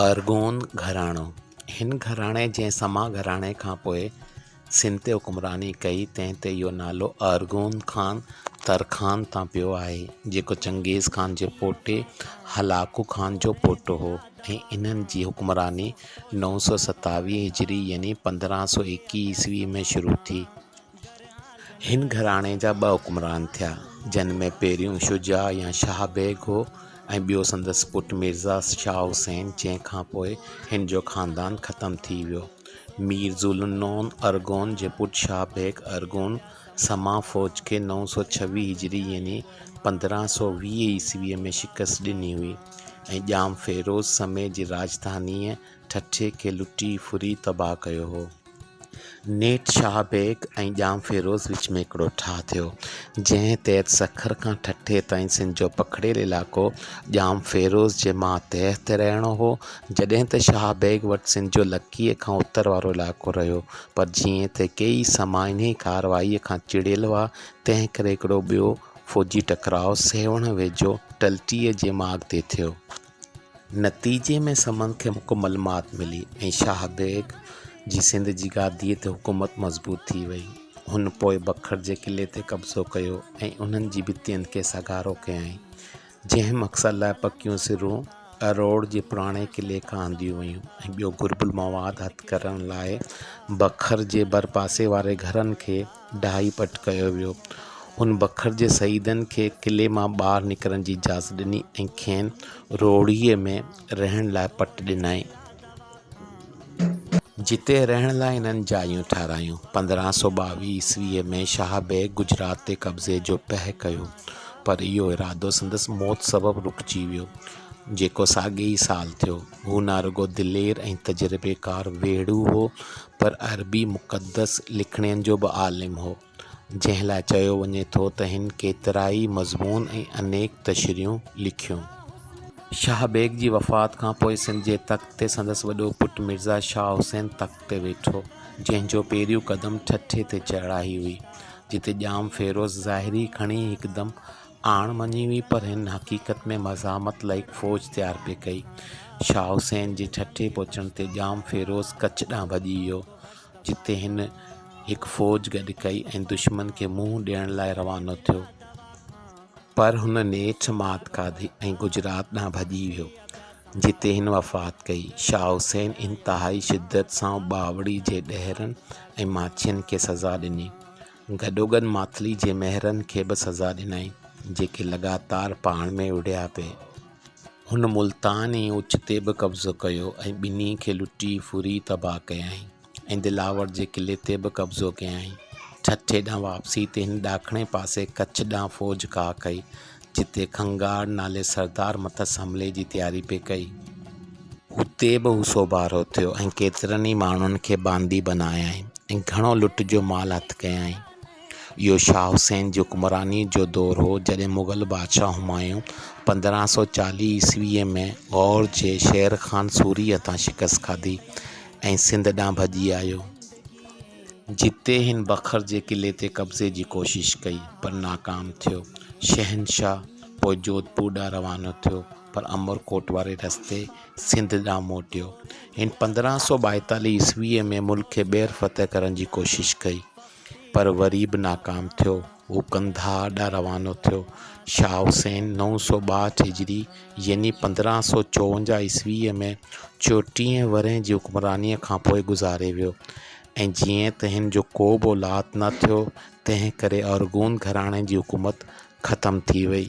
ارغون گهراڻو، هن گهراڻي جنهن سما گهراڻي کان پوء سنڌ تي حڪمراني ڪئي، تنهن تي اهو نالو ارغون خان ترخان تان پيو آهي، جيڪو چنگيز خان جي پوٽي هلاڪو خان جو پوٽو هو ۽ انهن جي حڪمراني نو سؤ ستاويهه هجري يعني پندرهن سؤ ايڪيهه عيسوي ۾ شروع ٿي. هن گهراڻي جا ٻه حڪمران ٿيا، جن ۾ پهريون شجاع يا شاهه بيگ هو ۽ ٻيو سندس پٽ ميرزا شاهه حسين، جنهن کان پوء هن جو خاندان ختم ٿي ويو. مير ذوالنون ارغون جي پٽ شاهه بيگ ارغون سما فوج کي نو سؤ ڇويهه هجري يعني پندرهن سؤ ويهه عيسويء ۾ شڪست ڏني هئي ۽ ڄام فيروز سمي جي راڄڌانيء ٺٽي کي لٽي ڦري تباهه ڪيو هو. نيٺ شاهه بيگ ۽ ڄام فيروز وچ ۾ هڪڙو ٺاهه ٿيو، جنهن تحت سکر کان ٺٽي تائين سنڌ جو پکڙيل علائقو ڄام فيروز جي ماتحت تي رهڻو هو، جڏهن ته شاهه بيگ وٽ سنڌ جو لڪيء کان اتر وارو علائقو رهيو، پر جيئن ته ڪيئي سما انهيء ڪارروائيء کان چڙيل هئا، تنهنڪري هڪڙو ٻيو فوجي ٽڪراء سيوهڻ ويجهو ٽلٽيء جي ماڳ تي ٿيو. نتيجي ۾ سمن کي مڪمل مات ملي ۽ شاهه بيگ جي سنڌ جي گاديء تي حڪومت مضبوط ٿي وئي. هن پوء بکر جي قلعي تي قبضو ڪيو ۽ انهن جي ڀتين کي سگهارو ڪيائين، جنهن مقصد لاء پڪيون سرون اروڙ جي پراڻي قلعي کان آنديون ويون ۽ ٻيو گهربل مواد هٿ ڪرڻ لاء بکر جي ڀرپاسي واري گهرن کي ڊاهي پٽ ڪيو ويو. هن بکر جي سيدن کي قلعي مان ٻاهر نڪرڻ جي اجازت ڏني ۽ کين روهڙيء ۾ رهڻ لاء پٽ ڏنائين. جتي رهڻ لاء هنن جايون ٺاهرايون. پندرهن سؤ ٻاويهه عيسويء ۾ شاهه بيگ گجرات تي قبضي جو پهه ڪيو، پر اهو ارادو سندس موت سبب رڪجي ويو، جيڪو ساڳئي ئي سال ٿيو. هو نه رڳو دلير ۽ تجربيڪار ويڙهو هو، پر عربي مقدس لکڻين جو به عالم هو، جنهن لاء چيو وڃي ٿو ته هن ڪيترائي مضمون ۽ انيڪ تشريحون لکيون. شاهه بيگ جي وفات کان پوء سنڌ جي تخت تي سندس وڏو پٽ مرزا شاهه حسين تخت تي ويٺو، جنهن جو پهريون قدم ٺٽي تي چڙهائي هئي، جتي ڄام فيروز ظاهري کڻي هڪدم اڻ مڃي هئي پر هن حقيقت ۾ مزاحمت لاء هڪ فوج تيار پئي ڪئي. شاهه حسين جي ٺٽي پهچڻ تي ڄام فيروز ڪڇ ڏانهن ڀڄي ويو، جتي هن هڪ فوج گڏ ڪئي ۽ دشمن کي منهن ڏيڻ لاء روانو ٿيو. پر هن نيٺ مات کاڌي ۽ گجرات ڏانهن ڀڄي ويو، جتي هن وفات ڪئي. شاهه حسين انتهائي شدت سان ٻاوڙي جي ڏهرن ۽ ماڇين کي سزا ڏني. گڏوگڏ ماٿلي جي مهرن کي به سزا ڏنائين، جيڪي لڳاتار پاڻ ۾ وڙهيا پئي. هن ملتان ۽ اچ تي به قبضو ڪيو ۽ ٻنهي کي لٽي ڦري تباهه ڪيائين ۽ دلاور جي قلعي تي به قبضو ڪيائين. ٺٽي ڏانهن واپسي تي هن ڏاکڻي پاسي ڪڇ ڏانهن فوج ڪاهه ڪئي جتي کنگهار نالي سردار مٿس حملي جي تياري پئي ڪئي، اتي به هو سوڀارو ٿيو ۽ ڪيترن ئي ماڻهن کي باندي بنايائين ۽ گهڻو لٽ جو مال هٿ ڪيائين. اهو شاهه حسين جي حڪمرانيء جو دور هو، جڏهن مغل بادشاهه همايون پندرهن سؤ چاليهه عيسويء ۾ غور جي شير خان سوري هٿان شڪست کاڌي ۽ سنڌ ڏانهن ڀڄي آيو. جتي هن بکر جي قلعي تي قبضي جي ڪوشش ڪئي پر ناڪام ٿيو. شهنشاهه پوء جوڌپور ڏانهن روانو ٿيو پر امرڪوٽ واري رستي سنڌ ڏانهن موٽيو. هن پندرهن سؤ ٻائيتاليهه عيسويء ۾ ملڪ کي ٻيهر فتح ڪرڻ جي ڪوشش ڪئي پر وري به ناڪام ٿيو. هو قنڌار ڏانهن روانو ٿيو. شاهه حسين نو سؤ ٻاهٺ هجري يعني پندرهن سؤ چوونجاهه عيسويء ۾ چوٽيهه ورهين جي حڪمرانيء کان پوء گذاري ويو ۽ جيئن ته هن جو ڪو به اولاد نه ٿيو، تنهن ڪري ارغون گهراڻي جي حڪومت ختم ٿي ويئي.